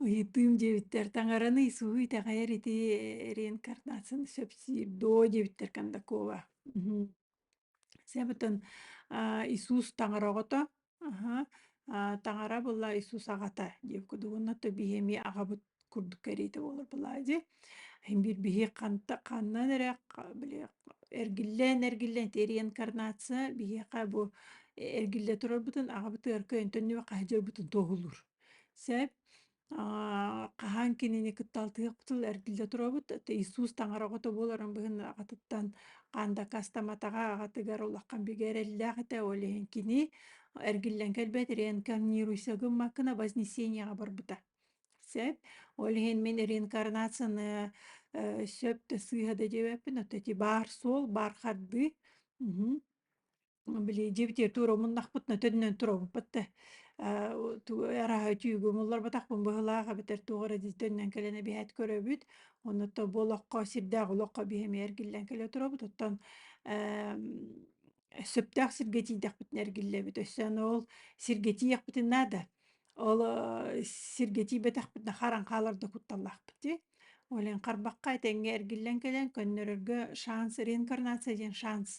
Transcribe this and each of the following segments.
Ыйытыым дьиэбиттэр таҥараны исуһу итэҕэйэр ити реинкарнациятын сөп сиир доо дьиэбиттэр кандакова мхм себытын Иисус таҥара оҕото аха таҥара була Иисус аҕата диэбит кудугунна то биһими аҕабыт курдук кэриитэ буолар былаа дии биир биһиги ханта ханнан эрэ били эргиллэн эргиллэн тиэрийэн инкарнация биһиэхэ бу эргиллэ турарбытын аҕабыт ыарка өнтөннүбэ хаһыдьырбытын туоһулуур сээп хаһаан кинини кытталтыахпытыл эргиллэ туробут иисус таҥара оҕото буоларын быһын аҕатыттан хаан дакастаматаҕа аҕатыгар улахан бигэ эрэллээх этэ ол иһин кини эргиллэн кэлбэт рeenкарнируйса гыммаккына вознесенияҕа барбыта Сөп. Ол иһин мин реинкарнацияны э, сөп да сыыһа да дьэбэппин, от эти баар суол, баар хардыы. Мгм. Били дьибитиэр туруомуннахпыт на төннөн туруорбуппут да э, ту- араһа түйгумулларбатахпын быһылаах эбэтэр туох эрэ дии төннөн кэлэн эбиһэт көрөбүт онно то бу олоххо сирдээх олоххо биһэмиэргиллэн кэлэ туробут оттон эм, сөптөөх сиргэ тиийдэхпитинэ эргиллэбит. Өссөөн ол сиргэ тиийэхпитин наада. Ол э, сиргэ тиийбэтэхпитинэ харан хаалар да кутталлаахпыт дии. Ол иһин харбахха этэҥҥэ эргиллэн кэлэн көннөрөргө шанс реинкарнация диэн шанс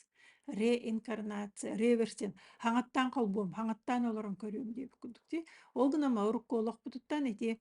реинкарнация, реверсин, хаҥаттаан холбуом, хаҥаттаан олорон көрүөм диэбит курдук дии. Ол гынан урукку олохпутуттан ити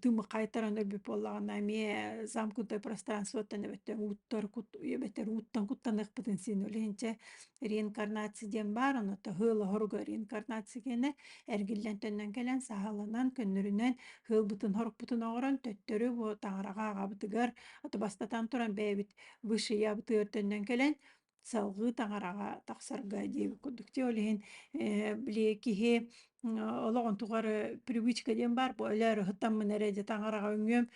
тыымыкхайтаран өрбүп буоллаҕына эмиэ замкнутое пространствоттан эбэттэн ууттар кут эбэттэр ууттан куттаныахпытын син үлэһинчэ реинкарнация диэн баар ону тыһыл оһоруга реинкарнация кэнэ эргиллэн төннөн кэлэн саһалынан көннөрүнэн һылбытын хорукпутун оҥорон төттөрү бу таҥараҕа аҕабытыгар ото бастатан туран бэйэбит высший ябытыгар төннөн кэлэн салгыы таҥараҕа тахсарга диэбит курдук. Те ол иһин э, били киһи олоҕун тухары привычка диэн баар бу өлөөрүһүттаммын эрэ дьэ таҥараҕа үҥүөм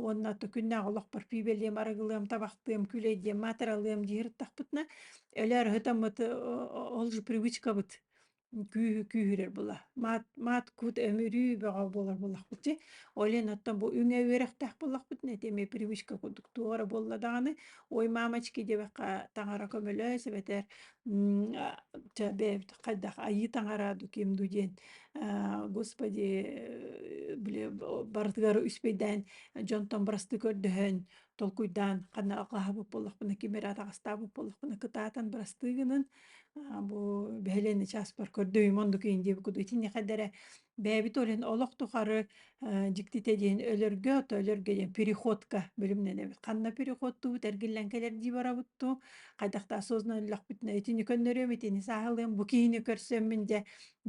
уонна то күннээх олохпор пиибэлиэм арыгылыам табахтыам күлэйдиэм маатыралыам диһиртахпытына өлөөрүһүтаммыт ол же привычкабыт күүһү күүһүрэр була маат маат кут өмүрүү бөҕө буолар буоллахпыт ти олен оттон бу үҥэ үөрэхтээх боллохпут нэтиэме привычка курдук туора буолла даҕаны ой мамочки диэбэххэ таҥара көмөлөс эбэтэр чэ бэбит хайдах айыы таҥара ду ким ду диэн господи били барытыгар үспэйдээн дьонтон бырасты көрдөһөн толкуйдаан хана аллаһабыт боллохпуна кимер атаҕастаабыт боллохпуна кытаатан бырастыы гынын Бу бэһэлэни чааспар көрдөйүм оннук иин диэбит куду итинникэдэрэ бэйэбит олен олох тухары дьиктите диэн өлөргө то өлөргө диэн переходка бөлүмнэн эбит ханна переходтубут эргиллэн кэлэр дии барабытту хайдахта осознанно өллөхпүтүнэ итини көннөрүөм итини сааһылыам бу киһини көрсөммүн дьэ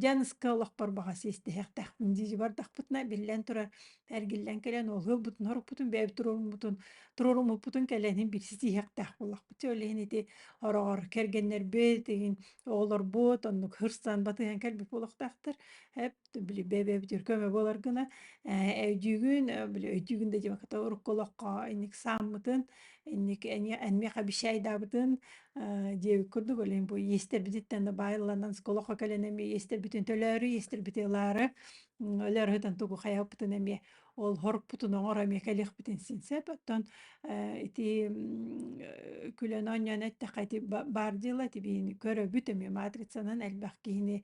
дьаныска олохпор баҕа сиэстэһэхтэхпин дии бардахпытына биллэн турар Эргиллэн кэлэн ол ылбытын, хоруппутун, бэйэбит туруоруммутун, туруоруммуппутун кэлэнин билсисиһиэхтээх буоллахпыт. Чэ, ол иһин ити ороҕор кэргэннэрбит, игин оҕолорбут оннук хырсан батыһан кэлбит буолуохтаахтар. Эп били бэбэбит үр көмө буолар гына э өйдүүгүн э, били өйдүүгүн да диэбэккэ то урукку олоххо инник сааммытын, инник эмиэх обещайдаабытын э, диэбит курдук ол иһин бу иэстэрбититтэн да баайланан олоххо кэлэн эмиэ иэстэрбитин төлөөрү иэстэрбити ылаары өлөр хытын тугу хайаппытын эмиэ олһорпутун оҥор эмиэ кэлиэхпитин синсеп оттон ити күлэн оонньоон эттэххэ ити баар дьыала ити биһини көрөбүт эмиэ матрицанан элбэх киһини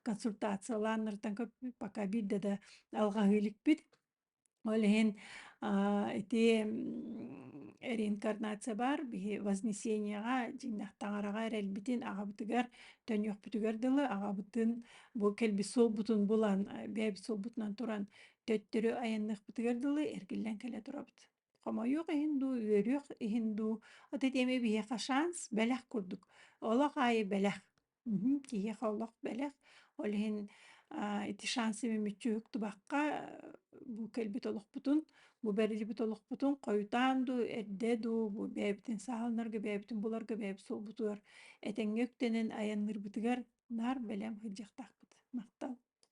консультациялааннартан пока биирдэ да алҕаһыы иликпит Ол иһин ити реинкарнация баар биһи вознесенияҕа дьиҥнэх таҥараҕа эрэлбитин аҕабытыгар төнүөхпүтүгэр дылы аҕабытын бу кэлбит суолбутун булан бэйэбит суолбутунан туран төттөрү айанныахпытыгар дылы эргиллэн кэлэ турабыт. Хомойуох иһин дуу, үөрүөх иһин дуу, от эти эми биһиэхэ шанс бэлэх курдук. Олох аайы бэлэх. Мгм. Киһиэхэ олох бэлэх. Ол иһин а, ити шансыбын мүччүһүк тубахха э, бу кэлбит олохпутун, бу бэриллибит олохпутун хойутаан дуу, эрдэ дуу, бу бэйэбитин сааһыланарга, бэйэбитин буларга бэйэбит суолбутугар этэҥҥэ үктэнэн айанныырбытыгар наар бэлэм сылдьыахтаахпыт. Махтал.